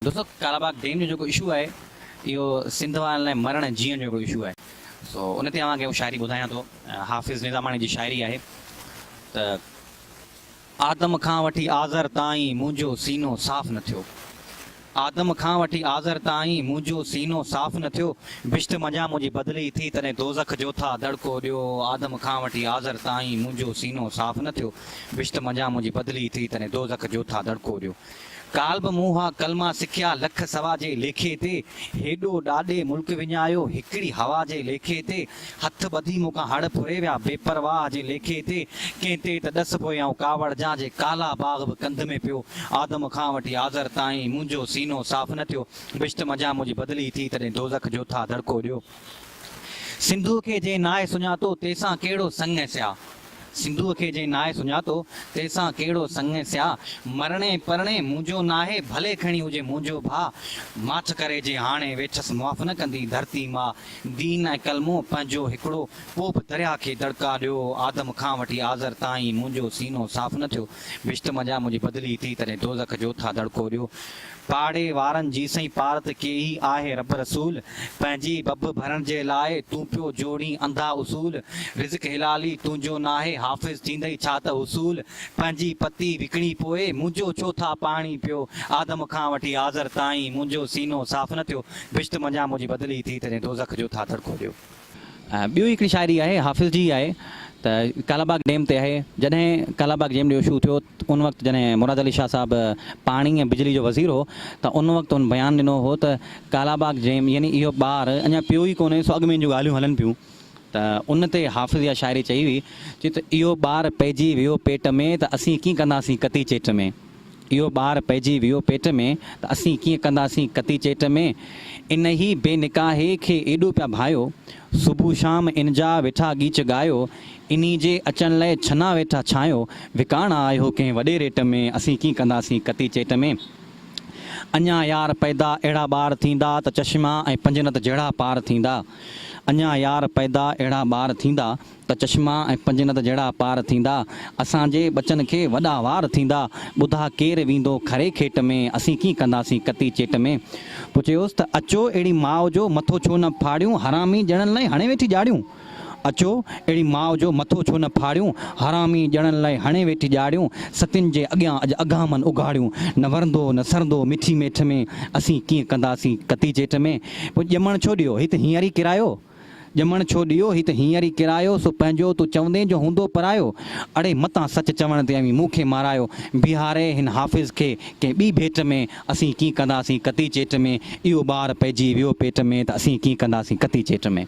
دوستو ڪالا باغ ڊيم جو جيڪو اشو آهي اهو سنڌ وارن لاء مرڻ ۽ جيئڻ جو هڪڙو اشو آهي سو ان تي اوهان کي هو شاعري ٻڌايان ٿو حافظ نظاماڻي جي شاعري آهي ته آدم کان وٺي آذر تائين منهنجو سينو صاف نه ٿيو آدم کان وٺي آذر تائين منهنجو سينو صاف نه ٿيو بهشت منجهان منهنجي بدلي ٿي تڏهن دوزخ جو ٿا دڙڪو ڏيو آدم کان وٺي آذر تائين منهنجو سينو صاف نه ٿيو بهشت منجهان منهنجي بدلي ٿي تڏهن دوزخ جو ٿا دڙڪو ڏيو. ڪالهه به مون اها ڪلما سکيا لک سوا جي ليکي تي هيڏو ڏاڏي ملڪ وڃايو هڪڙي هوا جي ليکي تي هٿ ٻڌي مون کان هڙ ڦري ويا بي پرواهه جي ليکي تي ڪنهن تي ته ڏس پوي آئون ڪاوڙ جان جي ڪالا باغ به ڪنڌ ۾ پيو آدم کان وٺي آذر تائين منهنجو سينو صاف نه ٿيو بشت مجان منهنجي بدلي ٿي تڏهن دوزخ جوٿا دڙڪو ڏيو. سنڌوء کي جنهن ناهي سڃاتو، تنهن سان ڪهڙو سڱ ۽ سياء. سنڌوء کي جنهن ناهي سڃاتو، تنهن سان ڪهڙو سڱ ۽ سياء. مرڻي پرڻي منهنجو ناهي، ڀلي کڻي هجي منهنجو ڀاء. ماٺ ڪري جي هاڻي ويٺس معاف نه ڪندي ڌرتي ماء. دين ۽ ڪلمو پنهنجو هڪڙو، پوء به درياهه کي دڙڪا ڏيو. آدم کان وٺي آزر تائين منهنجو سينو صاف نه ٿيو. بهشت منجهان منهنجي بدلي ٿي، تڏهن دوزخ جو ٿا دڙڪو ڏيو. پاڙي وارن جيسين پار ته ڪيهي آهي رب رسول پنهنجي ٻٻ ڀرڻ جي لاء تون پيو جوڙين انڌا اصول رزق حلالي تنهنجو ناهي حافظ ٿيندئي ڇا ته حصول پنهنجي پتي وڪڻي پوء منهنجو ڇو ٿا پاڻي پيو آدم کان وٺي آذر تائين منهنجو سينو صاف نه ٿيو بھشت منجهان منهنجي بدلي ٿي تڏهن دوزخ جو ٿا دڙڪو ڏيو. ٻيو هڪڙي شاعري آهي حافظ جي آهي ته ڪالا باغ ڊيم تي آهي جڏهن ڪالا باغ جيم جو اشو ٿيو ان وقت جڏهن مراد علي شاهه صاحب پاڻي ۽ بجلي جو وزير هو ته ان وقت هن بيان ڏنو هو ته ڪالا باغ جيم يعني اهو ٻار اڃا پيو ئي ڪونهي سو اڳ ۾ ان جون ڳالهيون هلن پيون ته ان تي حافظ اها شاعري چئي هئي چي ته اهو ٻار پئجي ويو پيٽ ۾ ته اسين ڪيئن ڪنداسين ڪتي چيٽ ۾. اهو ٻار پئجي ويو پيٽ ۾، ته اسين ڪيئن ڪنداسين ڪتي چيٽ ۾، انهيء بي نڪاهي کي ايڏو پيا ڀايو، صبح شام انجا ويٺا ڳيچ ڳايو، انهي جي اچڻ لئه ڇنا ويٺا ڇانيو، وڪاڻا آهيو ڪنهن وڏي ريٽ ۾، اسين ڪيئن ڪنداسين ڪتي چيٽ ۾، اڃا يار پئدا اهڙا ٻار ٿيندا، ته چشما ۽ پنجنت جهڙا پار ٿيندا، اڃا يار پئدا اهڙا ٻار ٿيندا، ته چشما ۽ پنجنت جهڙا پار ٿيندا، اسان جي ٻچن کي وڏا وار ٿيندا، ٻڌا ڪير ويندو کري کيٽ ۾، اسين ڪين ڪنداسين ڪتي چيٽ ۾. پوء چيوس ته اچو اهڙي ماء جو مٿو ڇو نه ڦاڙيون، حرامي ڄڻن لئي هڻي ويٺي ڄاڙيون. اچو اهڙي ماء جو مٿو ڇو نه ڦاڙيون، حرامي ڄڻن لئي هڻي ويٺي ڄاڙيون، ستين جي اڳيان اڄ اگهامن اگهاڙيون، نه ورندو نه سرندو مٺي ميٺ ۾، اسين ڪين ڪنداسين ڪتي چيٽ ۾. پوء ڄمڻ ڇو ڏيو هت هينئر ئي ڪرايو، ڄمڻ ڇو ڏيو هي ته هينئر ئي ڪيرايو سو پنهنجو تون چوندين جو هوندو پرايو اڙي متان سچ چوڻ تي اوهين مون کي مارايو بيهاري هن حافظ کي ڪنهن ٻي ڀيٽ ۾ اسين ڪين ڪنداسين ڪتي چيٽ ۾ اهو ٻار پئجي ويو پيٽ ۾ ته اسين ڪين ڪنداسين ڪتي چيٽ ۾.